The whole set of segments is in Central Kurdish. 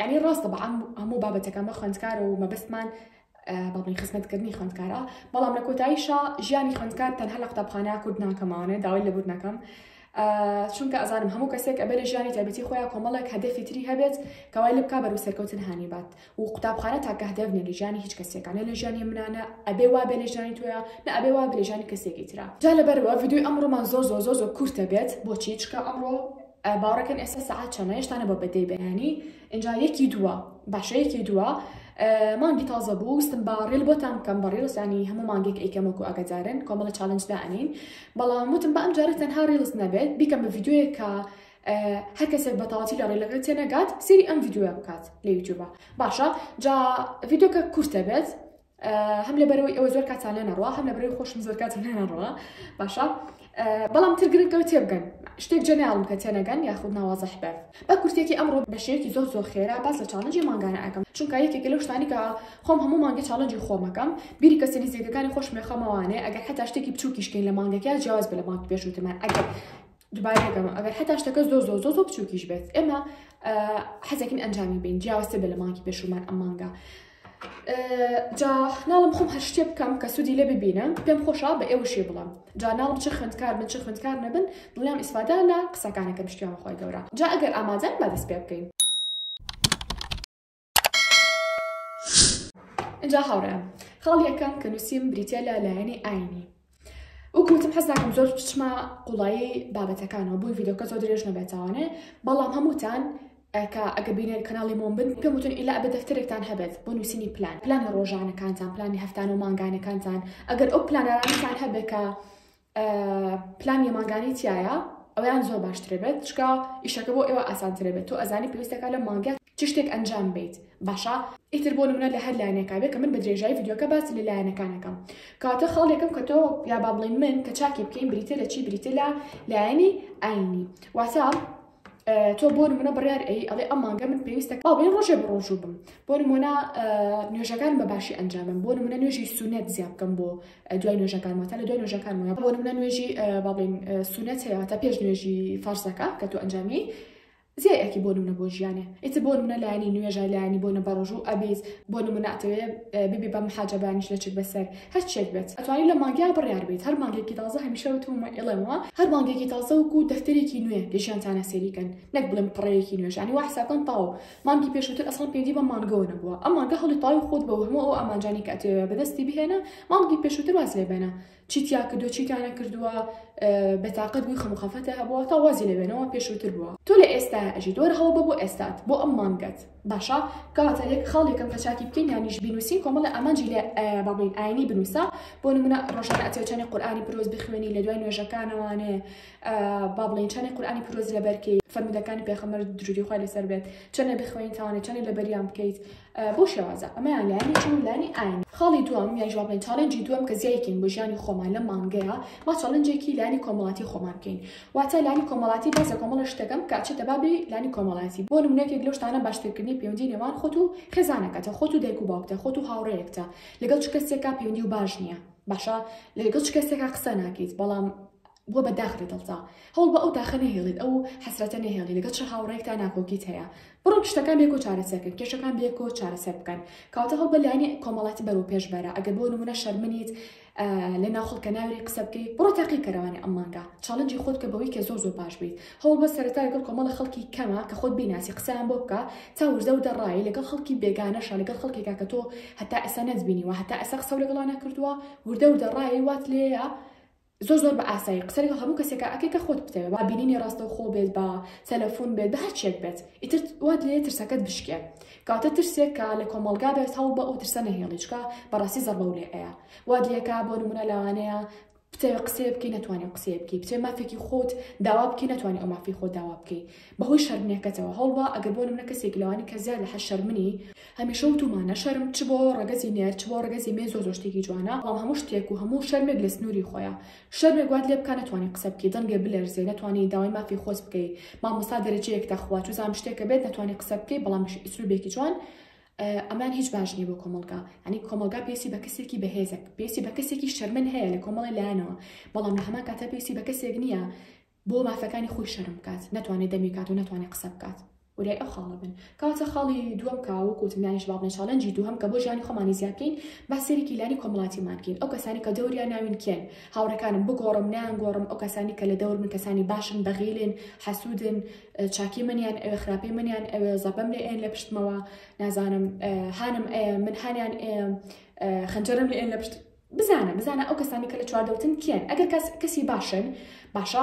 یانی ڕاستە بە عام هەموو بابەتەکان بە خوێندکارە و مەبەستمان بابن خستنەتکردنی خوێندکارە بەڵام لە کۆتاییشا ژیانی خوێندکار تەنها لە قوتابخانە کورد ناکەماوانێ داوای لەبوور نەکەم. چونکە ئەزانم هەموو کەسێک ئەبێ لە ژیانی تایبەتی خۆیان کۆمەڵێک هەدەفی تری هەبێت کەوای لە بکە بەرو سەرکەوتن هاانی بات و قوتابخانە تاکە هەدەف نیە لە ژیانی هیچ کەسێکانە لە ژیانی منانە ئەبێ وا بێ لە ژیانی تویا نە ئەبێ وا بێ ژیانی کەسێکی تررا جا لەبەرەوە ڤیددیوی ئەمڕۆمان زۆر زۆر زۆر زۆر کورتە بێت بۆچی چکە ئەمڕۆ باوەڕەکەن ئێستا سەعات چەنە هێشتا نەبووە بە دەی بەیانی ئینجا یەکی دووە باشە یەکی دووە مانگی تازە بوو وستم باڕیل بۆتان بکەم بەڕیڵسانی هەموو مانگێک ئەیکەمەکو ئەگەجارن کۆمەڵە چالنجدا ئەنین بەڵام وتم بە ئەم جارە تەنها ڕیڵز نەبێت بیکەم بە ڤیددیوەیە کە هەر کەسێک بەتەواتی لە ڕێلەکە تێنەگات سری ئەم ڤیددیوە بکات لە یوتیوبە باشە جا ڤیددیوکە کورتە بێت هەم لە بەرەوەی ئەوە زۆر کاتان لێ نەڕوە هەم لە بەرەوەی خۆشم زۆر کاتم لێ نەڕوە باشە بەڵام تر گرنگەوە تێبگەن شتێک جەناڵم کە تێنەگەن یاخود ناوازەح بێت بە کورتێکی ئەمڕۆ بە شێوەیەکی زۆر زۆر خێرا باس لە چاڵنجی مانگانە ئەەکەم چونکە یەکێک لەو شتانی کە خۆم هەموو مانگی چاڵنجی خۆمەکەم بیری کەسە نزیکەکانی خۆش مێخەمەوانێ ئەگەر حتا شتێکی بچووکیشکین لە مانگەکە جیاواز بە لە مانگ پێشوتمان ئەگەر دوبارە دەکەمەوە ئەگەر حتا شتەکە زۆ زۆ زۆ زۆ بچووکیش بێت ئێمە حەزەکن ئەنجامی بین جیاوازتر بە لە مانکی پێشومان ئەم مانگە جا ناڵم خۆم هەر شتێ بکەم کە سوودی لێ ببینم پێم خۆشە بە ئێوە شێ بڵم جا ناڵم چ خوندکار من چ خوندکار نەبن دڵیان ئیسفادا لە قسەکانەکە پشتیان خۆی گەورە جا ئەگەر ئامادەن بە دەست پێ بکەین ئینجا هاوڕێم خاڵ یەکەم کە نووسیم بریتە لە لایەنی ئاینی وکوتم حەز ناکەم زۆر بچمە قوڵایی بابەتەکانەوە بۆی ڤیدۆکە زۆر درێژ نەبێتوانێ بەڵام هەمووتان ئەکە ئەگە بینێن کەناڵی مۆم بن پێم وتن ئیلا بە دەفتەرێکتان هەبێت بۆ نووسینی پلان پلانی ڕۆژانەکانتان پلانی هەفتان و مانگانەکانتان ئەگەر ئەو پلانەکان هەبێکە پلان یە مانگانی تایە ئەویان زۆر باشترێ بێت چکە ئیشەکە بۆ ئێوە ئاسانترێ بێت تۆ ئەزانی پێویستەکە لە مانگە چ شتێک ئەنجام بیت باشە ئیتر بۆ منە لە هەر لایەنێکا بێت کە من بە درێژای یددیوکە باسی لە لایەنەکانەکەم کاتە خاڵێکم کە تۆ یا با بڵین من کە چاکی بکەین بریتە لە چی بریتە لە لایەنی ئاینی واتە تۆ بۆ نمونە بڕیار ئەی ئەڵێ ئەم مانگە من پێویستە ئەڵێ ڕۆژێ بە ڕۆژوو بم بۆ نمونە نوێژەکان بە باشی ئەنجامم بۆ نمونە نوێژی سونەت زیاد بکەم بۆ دوای نوێژەکان واتە لە دوای نوێژەکان وە بۆ نمونە نوێژی باڵین سونەت هەیە تا پێش نوێژی فارسەکە کە تۆ ئەنجامی زیای ئەکی بۆ نمونە بۆ ژیانێ ئیتر بۆ نمونە لایانی نوێژە لایانی بۆ نە بەڕۆژوو ئەبیت بۆ نمونە ئەتەوێ ببی بە محاجەبانیش لە چک بەسەر هەر چیەک بێت ئەتوانی لە مانگیا بڕیار بیت هەر مانگێکی تازە هەمیشە وتوم و ئێڵێم وە هەر مانگێکی تازە وکو دەفتەرێکی نوێ لە ژیانتانا سەیری کەن نەک بڵێم پڕەیەکی نوێژ یانی وا حساب کەن تاو مانگی پێشوتر ئەسڵەن پێویندی بەم مانگەوە نەبووە ئەم مانگە هەڵی تاوی خۆت بەوە هەموو ئەو ئامانجانی کە ئەتەوێ بەدەستی بهێنە مانگی پێشوتر واز لێ بێنە چی تیا کردووە چی تیا نەکردووە بەتاقەت بووی خەم و خەفەتە هەبووە تا وازی لێ بێنەوە پێشوتر بووە تۆ لە ئێستا ئەژیت وەرە هەوڵ بە بۆ ئێستات بۆ ئەم مانگەت باشە کەواتە لێک خاڵ یەکەم کە چاکی بکەین یانیش بینوسین کۆمەڵە ئامانجی لێ بابین ئاینی بنووسە بۆ نمونە ڕۆژانە ئەتێوچانی قورآانی پرۆز بخوێنی لە دوای نوێژەکانەوانێ با بڵێن چەنێ قورآانی پرۆز لە بەرکەی فەرمودەکانی پێخەمەر دروری خۆی لەسەر بێت چەنێ بخوێن تاوانێ چەنێ لە بەریان بکەیت بۆ شێوازە ئەمەیان لایانی چون لانی ئاین خاڵی دوم یان جواب بڵێن چاڵنجی دوم کە زیایکەین بۆ ژیانی خۆمان لە مانگەیە ما چاڵنجێکی لانی کۆمەڵاتی خۆمان بکەین واتە لانی کۆمەڵاتی باس لە کۆمەڵە شتەکەم کە ئەچێتە بابی لانی کۆمەڵایەتی بۆ نمونە یەکێک لەو شتانە باشترکردنی پەیوەندی نێوان خۆت و خێزانەکەتە خۆت و دایک و باوکتە خۆت و هاوڕێیەکتە لەگەڵ چ کەسێکا پەیوەندی و باش نییە باشە لەگەڵ چ کەسێکا قسە ناکەیت بەڵام بۆ بە داخ لە دڵتا هەوڵ بە ئەو داخە نەهێڵیت ئەو حەسرەتە نەهێڵی لەگەڵ چ هاوڕێکتا ناکۆکیت هەیە بڕۆ شتەکان بێکۆ چارەسەرکرد کێشەکان بێکۆ چارەسەر بکەن کاتە هەڵ بە لایەنی کۆمەڵاتی بەرەو پێش بەرە ئەگەر بۆ نمونە شەرمنیت لە ناو خڵکە ناوری قسە بکەیت بڕۆ تاقی کەرەوانی ئەم مانگە چاڵنجی خۆت کە بەوەی کە زۆر زۆر باش بیت هەوڵ بە سەرەتا لەگەڵ کۆمەڵە خەڵکی کەمە کە خۆت بیناسی قسەیان بۆ بکە تا وردە وردە ڕای لەگەڵ خەڵکی بێگانەشە لەگەڵ خەڵکێکا کە تۆ هەتا ئێستا نەتبینیوە هەتا ئێستا قسە لەگەڵا نەکردووە وردە وردە ڕای وات لێیە زۆر زۆر بە ئاسایی قسە لەگەڵ هەموو کەسێکە ئەکەی کە خۆت بتەوێت با بینینی ڕاستەوخۆ بێت بە تەلەفۆن بێت بە هەر چێک بێت ئیتر وات لێ ترسەکەت بشکێ کاتە ترسێک کە لە کۆمەڵگا بێت هەوڵ بە ئەو ترسە نەهێڵی چکە بەڕاستی زەڕبەو لێ ئەیا وا دیەکە بۆ نمونە لەوانەیە بتەوێ قسەیە بکەی نەتوانانی قسەیە بکەی بتێ مافێکی خۆت داوا بکەی نەتوانانی ئەو مافی خۆ داوا بکەی بەهۆی شەرمنەکەتەوە هەوڵبا ئەگەر بۆ نمونە کەسێک لەوانی کە زیاد لە حە شەرمنی هەمیشە وتومانە شەرم چ بۆ ڕەگەزی نێر چ بۆ ڕەگەزی مێ زۆ زۆ شتێکی جوانە بەڵام هەموو شتێک و هەموو شەرمێک لە سنووری خۆیە شەرمێک وات لێ بکا نەتوانی قسە بکەی دەنگێ بلەرزێ نەتوانی داوای مافی خۆت بکەی مامۆستا دەرەجەیەک دەخوا چوزان شتێکە بێت نەتوانی قسە بکەی بەڵام بش ئسلوبێکی جوان ئەمان هیچ باش نیە بۆ کۆمەڵگا ینی کۆمەڵگا پێسی بە کەسێکی بەهێزەک پێسی بە کەسێکی شەرمن هەیە لە کۆمەڵی لایەنەوە بەڵام لە هەمان کاتە پێسی بە کەسێک نییە بۆ مافەکانی خۆی شەرم بکات نەتوانێ دەمی کات و نەتوانێ قسە بکات وریای ئەو خاڵە بن کەواتە خاڵی دووەم کە وەکو وتم لانیش بابنە چاڵێنجی دووهەم کە بۆ ژیانی خۆمانی زیاد کەین با سەیرێکی لانی کۆمەڵاتیمان کەین ئەو کەسانی کە دەوریا ناوین کێن هاوڕێکانم بگۆڕم نایانگۆڕم ئەو کەسانی کە لە دەور من کەسانی باشن بەغیلن حەسودن چاکی منیان ئەوێ خراپی منیان ئەوێ زەبەم لێ ئێن لە پشتمەوە نازانم هانم ئەیە من هانیان ئێم خەنجەرم لێ ئێن لە پشت بزانە بزانە ئەو کەسانی کە لە چواردەورتن کێن ئەگەر کەس کەسی باشن باشە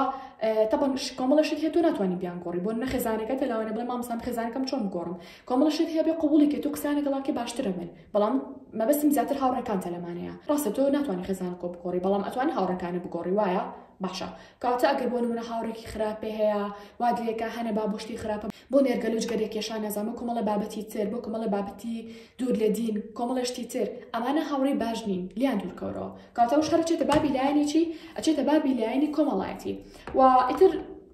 تەبەن کۆمەڵە شت هەیە تۆ ناتوانانی بیان گۆڕی بۆ نە خێزانەکە تە لەوانە بڵێ مامسان خێزانەکەم چۆن بگۆڕم کۆمەڵە شت هەیە بێ قوبوڵی کە تۆ قسانە گەڵاکە باشترە من بەڵام مەبەستم زیاتر هاوڕێکانتە لەمانەیە ڕاستە تۆ ناتوانانی خێزانە کۆ بگۆڕی بەڵام ئەتوانی هاوڕەکانی بگۆڕی وایە باشە کاتە ئەگەر بۆ نمونە هاوڕێکی خراپێ هەیە وادلێکە هەنە با بۆشتی خراپە بۆ نێرگەلوجگەرێک کێشان نەزانم کۆمەڵە بابەتی تر بۆ کۆمەڵە بابەتی دوور لە دین، کۆمەڵە شتی تر، ئەمانە هاوڕێی باش نین، لێیان دوور کەورەوە. کەواتە ئەوش هەر ئەچێتە بابی لایەنی چی؟ ئەچێتە بابی لایەنی کۆمەڵایەتی. و ئیتر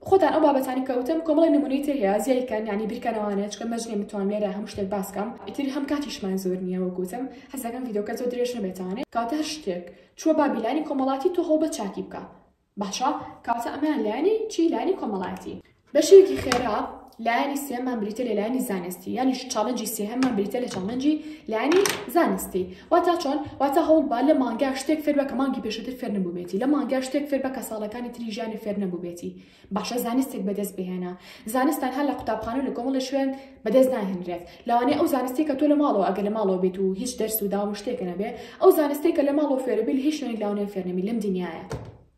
خۆتان ئەو بابەتانی کە وتم کۆمەڵێ نموونەی تر هەیە زیای بکەن یانی بیرکەنەوانە چکە مەرج نیە بتوانم لێرە هەموو شتێک باس کەم ئیتر هەم کاتیشمان زۆر نیە وەک وتم حەز دەکەم ڤیدۆکە زۆر درێژ نەبێتانێ کەواتە هەر شتێک چووە بابی لایەنی کۆمەڵاتی تۆ هەوڵ بە چاکی بکە باشە کاتە ئەمەیان لایەنی چی لایەنی کۆمەڵایەتی. بەشێکی خێرا لایەنی سێمان بریتە لە لایەنی زانستی یانیش چاڵنجی سێهەممان بریتە لە چاڵنجی لایەنی زانستی واتا چۆن واتا هەوڵ با لە مانگا شتێک فێر بە کە مانگی پێشتر فێر نەبووبێتی لە مانگا شتێک فێر بە کە ساڵەکانی تری ژیانی فێر نەبووبێتی باشە زانستێک بەدەست بهێنە زانستان هەر لە قوتابخانە و لە کۆمەڵی شوێن بەدەست ناهێنرێت لەوانەیە ئەو زانستەی کە تۆ لە ماڵەوە ئەگەر لە ماڵەوە بێت و هیچ دەرس و داوام و شتێکە نەبێ ئەو زانستەی کە لە ماڵەوە فێرەبی لە هیچ شوێنێک لەوانەیە فێر نەبی لەم دنیایە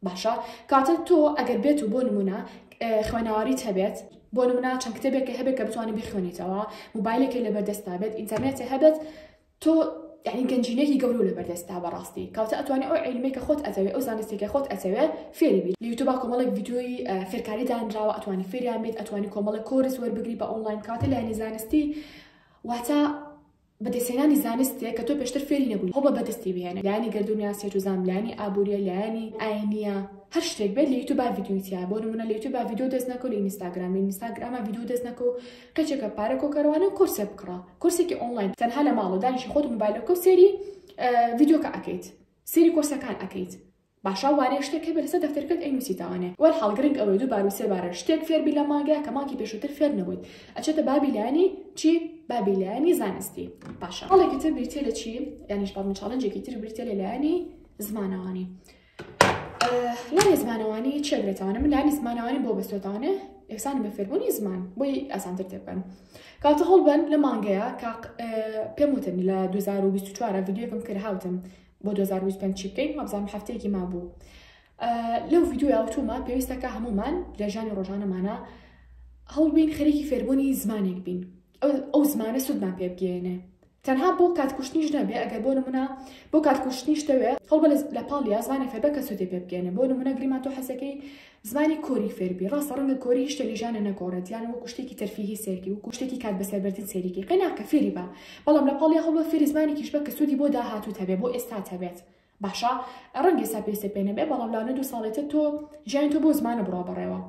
باشە کاتە تۆ ئەگەر بێت و بۆ نمونە اه، خوێناواریت هەبێت بۆ نمونە چەند کتێبێکە هەبێت کە بتوانانی بخوێنیتەوە موبایلێکی لەبەردەستا بێت ئینتەرنێتی هەبێت تۆ یعنی گەنجینەیەکی گەورەو لەبەر دەستتا بەڕاستی کەواتە ئەتوانی ئەو عیلمەی کە خۆت ئەزەوێ ئەو زانستەی کە خۆت ئەزەوێ فێری بیت لە یوتوبا کۆمەڵێک ڤیدیۆی فێرکاری دانراوە ئەتوانی فێریان بیت ئەتوانی کۆمەڵێک کۆرس وەربگری بە ئۆنلاین کاتە لایەنی زانستی واتە بەدەستێنانی زانستێک کە تۆ پێشتر فێری نەبووی هەڵ بە بەدەستی بهێنە لایانی گردونیا سێت و زام لایانی ئابووریە لایانی ئاینیە هەر شتێک بێت لە یوتوب با ڤیدیوی تیا بۆ نمونە لە یوتوب با ڤیدیو دەست نەکەو لە ئینستاگرام لە ئینستاگرامە ڤیدیو دەست نەکەو کەچەکە پارە کۆکەروانە و کۆرسێ بکڕە کۆرسێکی ئۆنلاین تەنها لە ماڵەوە دانیشی خۆت موبایلەکە و سێری ڤیددیوکە ئەکەیت سێری کۆرسەکان ئەکەیت باشا وارێ شتێک هەبێت لەسەر دەفتەرکەت ئەی نووسیتوانێ وەر حڵگرنگ ئەوەی دوو بارو سێ بارە شتێک فێربی لە مانگەیە کە مانکی پێشووتر فێر نەبوویت ئەچێتە بابی لایانی چی بابی لایانی زانستی باشە هەڵێکی تر بریتێ لە چی یانیش بابم چاڵنجێکی تر بریتێ لە لایانی زمانەوانی لانی زمانەوانی چێ بێتوانە من لانی زمانەوانی بۆ بەسوێتانە یەکسانی بە فێربوونی زمان بۆی ئاسانتر تێبن کاتە هەڵبەن لە مانگەیە کاق پێم وتن لە 2024 ڤیددیوکم کرد هاوتم بۆ 2025 چی بکەین مەبزان هەفتەیەکی ما بوو لەو ڤیددیو یاوتومە پێویستەکە هەمومان لە ژانی ڕۆژانەمانە هەڵبین خەرێکی فێربوونی زمانێک بین ئەو زمانە سوودمان پێ بگەێنێ تەنها بۆ کات کوشتنیش نەبێ ئەگەر بۆ نمونە بۆ کات کوشتنیش دەوێ هەوڵبە لە پاڵ یا زمانی فێربە کە سوودی پێ بگەێنێ بۆ نمونە گریمان تۆ حەزەکەی زمانی کۆری فێربی ڕاستە ڕەنگە کۆری شتە لیژانە نەگۆڕێت یان وەکو شتێکی تەرفیهی سێرکی و کوشتێکی کات بەسەربردن سێریکی قەیناکە فێری بە بەڵام لە پاڵی هەوڵە فێری زمانێکیش بە کە سوودی بۆ داهاتوو هەبێ بۆ ئێستا هەبێت باشە ڕەنگی سا پێویستە پێ نەبێ بەڵام لاونە دوو ساڵێتە تۆ ژیان تۆ بۆ زمانە بڕا بەڕێوە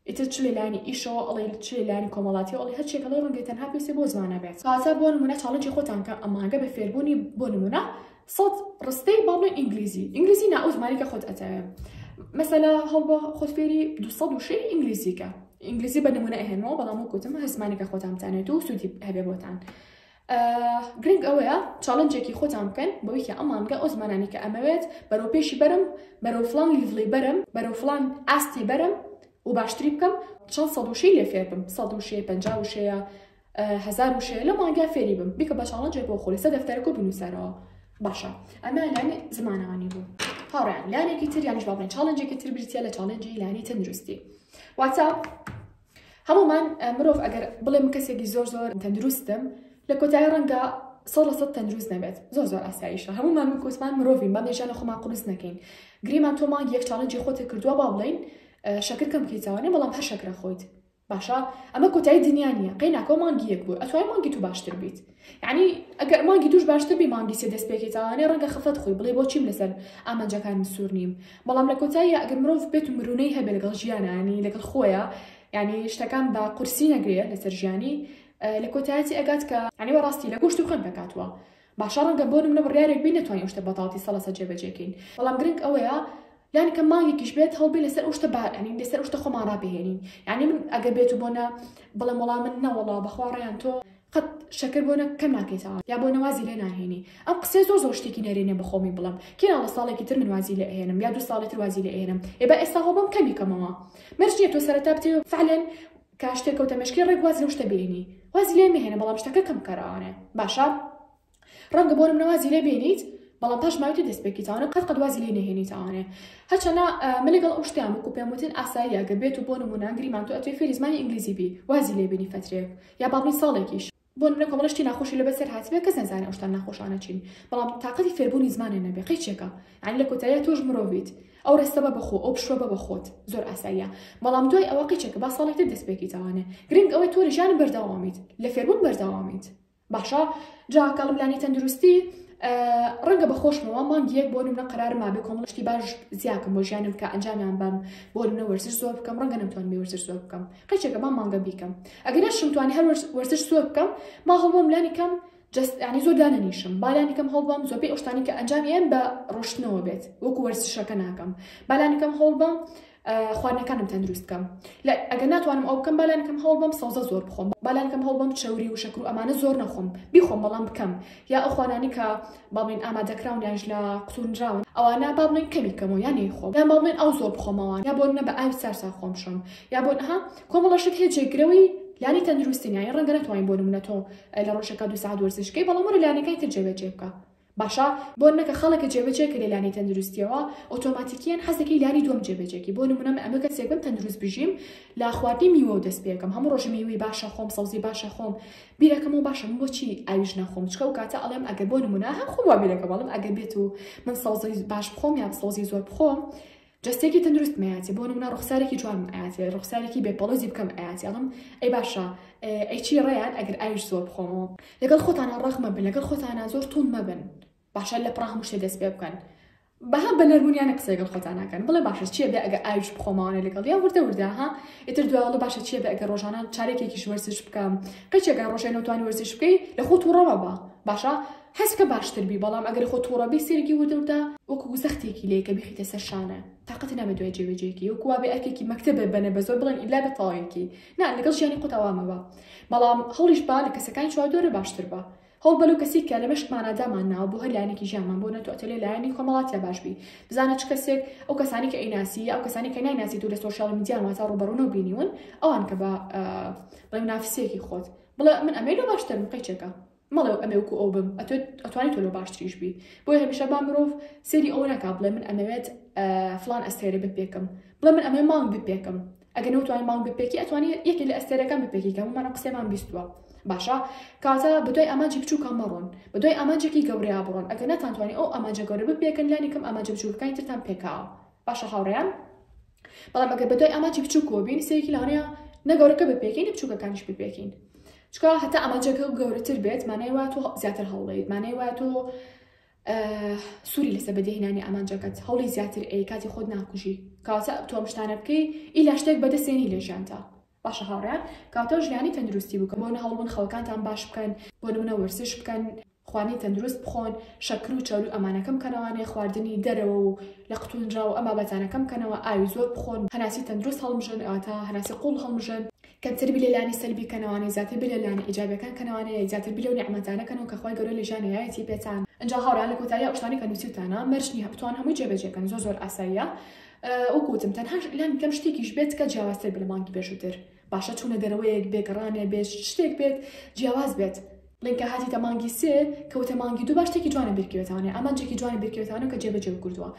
ئیتر چ لە لایەنی ئیشەوە ئەڵێی چ لە لایەنی کۆمەڵاتیەوە ئەڵێی هەرچیەک ئەڵێی ڕەنگە تەنها پێویستە بۆ زمانە بێت واتە بۆ نمونە چاڵنجی خۆتان کە ئەمانگە بە فێربونی بۆ نمونە سەد ڕستەی با بڵێ ئینگلیزی ئینگلیزی نا ئەو زمانی کە خۆت ئەتەوێ مەسەلا هەڵبە خۆت فێری دو سەد و شەی ئینگلیزیکە ئینگلیزی بە نمونە ئەهێنەوە بەڵام وەکوتم هەر زمانێکە خۆتان بزانێت و سودی هەبێ بۆتان گرنگ ئەوەیە چاڵنجێکی خۆتان بکەن بەوەی کە ئەم مانگە ئەو زمانانی کە ئەمەوێت بەرەو پێشی بەرم بەرەو فلان لیڤڵی بەرم بەرەو فلان ئاستی بەرم و باشتری بکەم چەند سەد وشەی لێ فێر بم سەد وشەیە پەنجا وشەیە هەزار وشەیە لە مانگا فێری بم بیکە بە چاڵنجێک بۆ خۆی سە دەفتەرەکە بنووسەرەوە باشە ئەمە لانی زمانەوانی بوو هاڕیان لانێکی تر یانیش باڵێن چاڵنجێکی تر بریتە لە چاڵنجی لانی تەندروستی واتە هەموومان مرۆڤ ئەگەر بڵێم کەسێکی زۆر زۆر تەندروستم لە کۆتایی ڕەنگە سەد لە سەد تەندروست نەبێت زۆر زۆر ئاساییشە هەموومان من کوسمان مرۆڤین بەم لێژانە خۆمان قورس نەکەین گریمان تۆ مانگ یەک چاڵنجی خۆتە کردووە با بڵین شەکر کەم کەیتاوانێ بەڵام هەر شەکرە خۆیت باشە ئەمە کۆتایی دنیا نییە قەی ناکۆ مانگی یەک بوو ئەتوای مانگی تو باشتر بیت یەعنی ئەگەر مانگی دووش باشتر بی مانگی سێ دەست پێکەی تاوانێ ڕەنگە خەفەت خوی بڵێ بۆچیم لەسەر ئامانجەکانم سوور نیم بەڵام لە کۆتاییا ئەگەر مرۆڤ بێت و مرونەی هەبێ لەگەڵ ژیانە یەعنی لەگەڵ خۆیە یەعنی شتەکان بە قورسی نەگرێ لەسەر ژیانی لە کۆتایەتی ئەگات کە یەعنی وەڕاستی لە گۆشت و خوێن پێکاتوە باشە ڕەنگە بۆ نمونە بڕیارێک بی نەتوانی ئەو شتە بەتاڵی سەد لە سەد جێبەجێکەین بەڵام گرنگ ئەوەیە یان کە مانگێکیش بێت هەڵبێ لەسەر ئەو شتە بارئەنین لەسەر ئەو شتە خۆمان ڕابهێنین یعنی من ئەگەر بێت و بۆ نە بڵێم وەڵام من نەوەڵا بەخوا ڕەیان تۆ قەت شەکر بۆ نە کە ناکەیتە ئاو یا بۆ نە وازی لێ ناهێنی ئەم قسەیە زۆر زۆر شتێکی نەرێنیە بە خۆمی بڵێم کێ ناڵە ساڵێکی تر من وازی لێ ئەهێنم یا دوو ساڵی تر وازی لێ ئەهێنم ئێ با ئێستا هەوڵ بەم کەمی کەمەوە مەرج نیە تۆ سەرەتا بتێ فعلا کە شتێک کەوتە مێشکی ڕێک واز لەو شتە بێنی وازی لێ مەهێنە بەڵام شتەکە کەم کەرەوانێ باشە ڕەنگە بۆ نمنە وازی لێ بێنیت بەڵام پاش ماوەی دەست پێکی تاوانە قەت قەت وازی لێ نەهێنی تاوانێ هەچەنا من لەگەڵ ئەو شتیان وکو پێم وتن ئاساییە گە بێت و بۆ نمونە گریمان تۆ ئەتوێ فێری زمانی ئینگلیزی بی وازی لێ بینی فەترێک یا بابی ساڵێکیش بۆ نمونە کۆمەڵە شتی ناخۆشی لەبەر سەر هاتبێ کەس نەزانێ ئەو شتان ناخۆشانە چین بەڵام تاقەتی فێربوونی زمانێ نەبێ قەیچێکە یعنی لە کۆتاییا تۆش مرۆڤیت ئەو ڕستە بە بەخۆ ئەو پشوە بە بەخۆت زۆر ئاساییە بەڵام دوای ئەوە قەیچێکە با ساڵێکتر دەست پێکی تاوانێ گرنگ ئەوەی تۆ لە ژیانم بەردەوامیت لە فێربوون بەردەوامیت باشە جا کاڵم لانی تەندروستی ڕەنگە بە خۆشمەوە مانگی یەک بۆ نمە قرار مابێ کۆمەڵشتی باش زیاکەم بۆ ژیانم کە ئەنجامیان بەم بۆ نە وەرزش زۆر بکەم ڕەنگە نەمتوان بێ وەرزش زۆر بکەم قەچێکە با مانگە بیکەم ئەگەرە شمتوانی هەر وەرزش زۆر بکەم ما هەڵبم لانی کەم جستانی زۆر دانەنیشم بالانی کەم هەڵبم زۆربەی ئەوشتانی کە ئەنجامیان بە ڕۆشتنەوە بێت وەکو وەرزشەکە ناکەم بالانی کەم هەڵبم خواردنەکانم تەندروست بکەم لە ئەگەر ناتوانم ئەو بکەم بالانکەم هەوڵ بەم سەوزە زۆر بخۆم بالانکەم هەوڵ بەم چەوری و شەکر و ئەمانە زۆر نەخۆم بیخۆم بەڵام بکەم یا ئەو خوانانی کە باڵین ئامادەکراون یانش لە قوتونراون ئەوانە بابڵین کەمی بکەمەوە یانی خۆم یا باڵێن ئەو زۆر بخۆمەوە یا بۆ نە بە ئاوی سارسا خۆم شم یا بۆ ها کۆمەڵەشت هێ جێگرەوەی لانی تەندروستنیایی ڕەنگە نتوانین بۆ نمونەتەوە لە ڕۆژەکە دو سا دۆرزشکەی بەڵام ڕ لانەکەی تر جێبەجێ بکە باشە بۆ نەکە خەڵک جێبەجێ کرێ لانی تەندروستیەوە ئۆتۆماتیکیەن حەز دەکەی لانی دوەم جێبەجێ کی بۆ نمونە من ئەمە کەسێک بم تەندروست بژیم لە خواردنی میوەو دەست پێکەم هەموو ڕۆژ میوەی باش ئەخۆم سەوزی باش ئەخۆم بیر ئەکەمەوە باشە من بۆچی ئاویش ناخۆم چکە ئەو کاتە ئەڵێم ئەگەر بۆ نمونە هەم خۆم وا بیر ئەکەم ئەڵێم ئەگەر بێتو من سەوزی باش بخۆم یان سەوزی زۆر بخۆم جەستەیەکی تەندروستم ئەیاتێ بۆ نمونە ڕوخسارێکی جوانم ئەیاتێ ڕوخسارێکی بێ پەڵۆزی بکەم ئەیاتێ ئەڵم ئەی باشە ئەی چی ڕێیان ئەگەر ئاویش زۆر بخۆمەوە لەگەڵ خۆتانە ڕەق مەبن لەگەڵ خۆتانە زۆر توند مەبن باشە لە پڕا هەموو شتێ دەست پێ بکەن بەها بە نەرمونیانە قسە لەگەڵ خۆتان ناکەن بڵێ باشە چیە بێ ئەگەر ئاویش بخۆمەوانە لەگەڵ یا وردە وردە ها ئیتر دوایڵە باشە چیە بێ ئەگەر ڕۆژانە چارێکێکیش وەرزش بکەم قەچێکە ڕۆژێ نەوتوانی وەرزش بکەی لە خۆت و ڕەوە بە باشە هەسکە باشتر بی بەڵام ئەگەر خۆ توڕە بی سەیرکی وردەوردە وەکو زەختێکی لێ کە بیخیتە سەر شانە تاقەتی نابێ دوای جێبەجێکی وەکو وابێ ئەرکێکی مەکتەبە بەنە بەزۆر بڵێن ئیلا بە تەواویکی نا لەگەڵ ژیانی خۆتا وا مەبە بەڵام هەوڵیش بە لە کەسەکانی چواردوەرە باشتر بە هەوڵ بە لەو کەسی کە لە مێشک مانا دامان ناوە بۆ هەر لایەنێکی ژیانمان بۆ نەتۆ ئەتەلێ لایەنی کۆمەڵاتیا باش بی بزانە چ کەسێک ئەو کەسانی کە ئەیناسی یا ئەو کەسانی کە نایناسی دوو لە سۆشیال میدیان واتا ڕوبەڕونەو بینیون ئەوان کە بە بڵێ نافسێکی خۆت بڵێ من ئەمەی لۆ باشترم قەیچێکە. مەڵێ ئەمێ وەکو ئەو بم ئەتوانی تۆ لۆ باشتریش بی بۆی هەمیشە با مرۆڤ سێری ئەوە ناکا بڵێ من ئەمەوێت فلان ئەستێرە بپێکم بڵێ من ئەمێ مانگ بپێکم ئەگە نەوتوانی مانگ بپێکی ئەتوانی یەکێک لە ئەستێرەکان بپێکی کە ممانە قسێمان بیستوە باشە کاتە بەدوای ئاماجی بچووکە مەڕۆن بەدوای ئاماجێکی گەورەیا بڕۆن ئەگە ناتانتوانی ئەو ئاماجە گەورە بپێکن لانی کەم ئاماجە بچووکەکانی ترتان پێکاوە باشە هاوڕێیان بەڵام ئەگەر بە دوای ئامانجی بچووکەوە بین سەیەکی لەوانەیە نە گەورەکە بپێکین نە بچووکەکانیش بپێکین چکە هەتا ئامانجەکە و گەورەتر بێت مانای وا تۆ زیاتر هەوڵیت مانای وا تۆ سووری لەسە بەدەهێنانی ئامانجەکەت هەوڵی زیاتر ئەی کاتی خۆت ناکوژی کاواتە تۆم شتانە بکەی ئیلا شتێک بەدەستێنی لە ژیانتا باشە هاوڕێیان کاتەو ژیانی تەندروستی بکەن بۆ نەهەڵبن خەوەکانتان باش بکەن بۆ نمونە وەرزش بکەن خواردنی تەندروست بخۆن شەکرو چەورو ئەمانە کەم کەنەوانێ خواردنی دەرەوە و لە قتونراو ئەم بابەتانە کەم کەنەوە ئاوی زۆر بخۆن هەناسی تەندروست هەڵمژن ئەوەتا هەناسی قوڵ هەڵمژن کەمتر بیر لە لانی سەلبی کەنەوانێ زیاتر بیر لە لانە ئیجابیەکان کەنەوانێ زیاتر بیر لەو نیعمەتانە کەنەوە کە خوای گەورە لە ژیان نەیایەتی پێتان ئینجا هاوڕێیان لە کۆتایی ئەو شتانەی کە نوسیوتانە مەرج نیە بتوان هەمووی جێ بەجێ کەن زۆر زۆر ئاساییە وەک وتم تەنها ئیلانی کەم شتێکیش بێت کە جیاوازتر بە لە مانگی پێشووتر باشە چوونە دەرەوەیەک بێ گەڕانێ بێت شتێک بێت جیاواز بێت لینکە هاتی تە مانگی سێ کەوتە مانگی دوو باشتێکی جوانە بیرکوێتانێ ئامانجێکی جوانی بیرکوێتانە کە جێبەجێ کردووە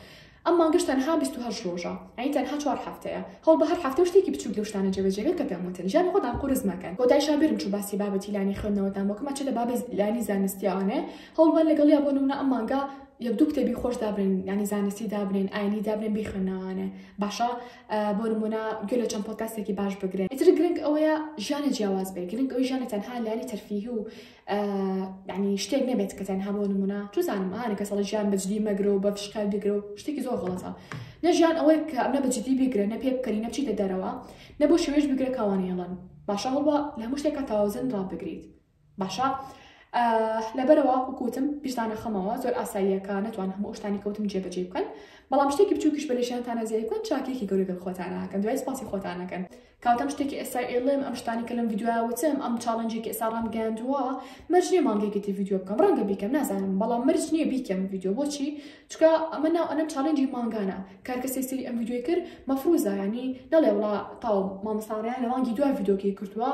ئەم مانگەش تەنها 28 ڕۆژە ئەین تەنها چوار هەفتەیە هەڵ بە هەر هەفتە شتێکی بچوک لە شتانە جێبەجێگە کە پێموتن ژیان خۆتان قورس مەکەن بۆ دایشا بێرم چوو باسی بابەتی لانی خوێندنەوەتان بۆکەمە چ لە بابە لانی زانستیانێ هەڵبەن لەگەڵ یا بۆ نمونە ئەم مانگە یەک دوو کتێبی خۆش دابرێن ینی زانستی دابرێن ئاینی دابرێن بیخوێنەوانێ باشە بۆ نمونە گوێ لە چەند پۆتاسێکی باش بگرێن ئیتر گرنگ ئەوەیە ژیانە جیاواز بێ گرنگ ئەوی ژیانە تەنها لاری تەرفیه و ینی شتێک نەبێت کە تەنها بۆ نمونە توزانم ئاە کە سەڵ ژیان بەجدی مەگرە و بە فشکال بگرە و شتێکی زۆر غڵەتە نەژیان ئەوەی کە ئەمە بەجددی بگرە نە پێ بکەنی نەچیتە دەرەوە نەبوو شوێش بگرە کاوانەیەڵەن باشە هەڵوە لە هەموو شتێکە تاوازن ڕابگریت باشە لەبەرەوە وکوتم پیشتانە خەمەوە زۆر ئاساییەکە نتوان هەموو ئەوشتانی کەوتم جێبەجێ بکەن بەڵام شتێکی بچووکیش بەلێشانتانە زیای بکەن چاکێکی گەورە گەڵ خۆتانەکەن دوای سپاسی خۆتانەکەن کاوتم شتێکی ئێستا ئێڵێم ئەم شتانی کە لەم ڤیددیویا وتم ئەم چاڵنجێکی ئێستا ڕام گەیاندووە مەرج نیە مانگێکێتی ڤیددیو بکەم ڕەنگە بیکەم نازانم بەڵام مەرج نییە بیکەم ڤیددیو بۆچی چکە ئەمە ناو ئەنەم چاڵنجی مانگانە کارکەسێ سری ئەم ویددیوی کرد مەفروزایانی نەڵێ وڵا تاو مامەساڕیان لە مانگی دوای ویدۆکەی کردووە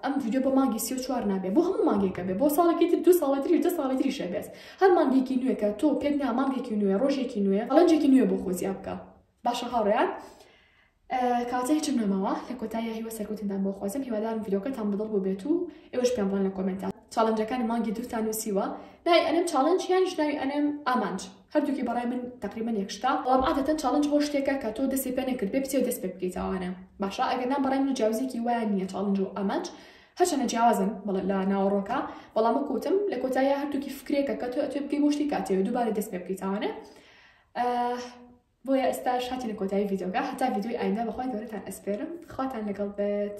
ئەم ویددیو بۆ مانگی سی و چوار نابێ بۆ هەموو مانگێکە بێ بۆ ساڵێکی تر دو ساڵی تریش دە ساڵی تری شەبێت هەر مانگێکی نوێکە تۆ پێت نا مانگێکی نوێ ڕۆژێکی نوێ ئەڵەنجێکی نوێ بۆ خۆزیا بکە باشە هاوڕێیان کاتە هیچم نەماوە لە کۆتاییە هیوە سەرکوتندان بۆ خۆزم هیوادارم ڤیدۆکەتان بدڵ بۆ بێت و ئێوەش پێم بڵێن لە کۆمنتان چاڵنجەکانی مانگی دووتان نووسیوە ناوی ئەنم چاڵنج یان ژناوی ئەنم ئامانج هەردووکی بەڕای من تقریبا یەکشتا بەڵام عادەتەن چاڵنج بۆ شتێکە کە تۆ دەستی پێ نەکرد بێ بچێ دەست پێ بکەیتەوانە باشە ئەگەر نام بەڕای من جیاوزێکی وایە نییە چاڵنج و ئامانج هەرچەنە جیاوازن بەڵ لە ناوەڕۆکە بەڵام کوتم لە کۆتاییە هەردووکی فکرێکە کە تۆ ئەتوێ بگەی بۆ شتی کاتێ دووبارە دەست پێ بکەیتەوانە بۆیە ئێستاش هاتینە کۆتایی ڤیدۆکە هەتا ڤیدۆی ئایندە بەخوای گەورەتان ئەسپێرم خواتان لەگەڵ بێت.